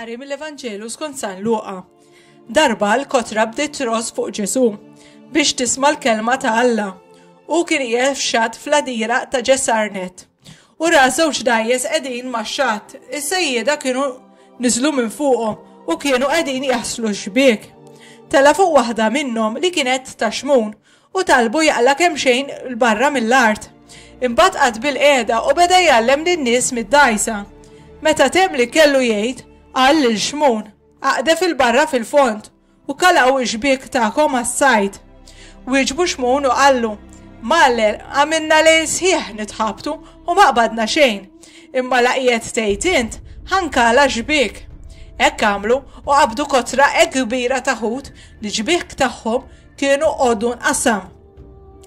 Qari mill-Evanġelu skont San Luqa. Darba l-kotra bdiet tros fuq Ġesu biex tisma' l-kelma ta' Alla. U kien qiegħed f'xatt fl-adira ta' Ġesarnet. U ra żewġ dgħajjes qegħdin max-xatt. Is-sejjieda kienu niżlu minn fuqhom u kienu qegħdin jaħslu x-xbiek. Tela' fuq waħda minnhom li kienet ta' xmun u talbu jaqla' kemxejn 'l barra mill-art. Imbagħad qagħad bilqiegħda u beda jgħallem lin-nies mid-dgħajsa. Meta temm li kellu jgħid, qal lil xmun, Aqdef 'il barra fil-fond U kalgħu x-xbiek tagħkom għas-sajd. Wieġbu Xmun u qallu, Maler, għamilna lejl sħiħ nitħabtu u ma qbadna xejn, imma la qiegħed tgħid int, ħa nkala x-xbiek. Hekk għamlu u qabdu kotra hekk kbira ta' ħut li ġbiek tagħhom kienu għoddu nqasam.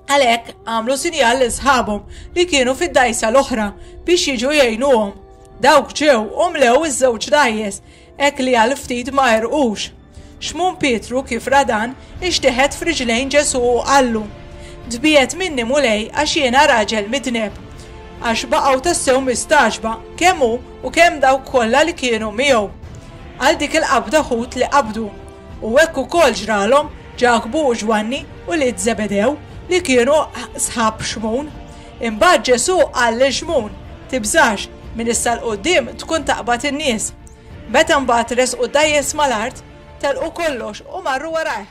Għalhekk għamlu sinjal lil sħabhom li kienu fid-dajsa l-oħra biex jiġu jgħinuhom. Dawk ġew u mlew iż-żewġ dajjes Hekk li għal ftit ma għerqux. Xmun Pietru, kif ra dan, ixteħet f'riġlejn Ġesù u qallu, Tbiegħed minni, Mulej, għax jiena raġel midneb. Għax baqgħu tassew mistagħġba, kemm hu u kemm dawk kollha li kienu miegħu, għal dik il-qabda ħut li qabdu. U hekk ukoll ġralhom Ġakbu u Ġwanni, ulied Żebedew, li kienu sħab Xmun. Imbagħad Ġesù qal lil Xmun, Tibżax, minn issa 'l quddiem tkun taqbad in-nies. Meta mbagħad resqu dgħajjes mal-art, telqu kollox u marru warajh.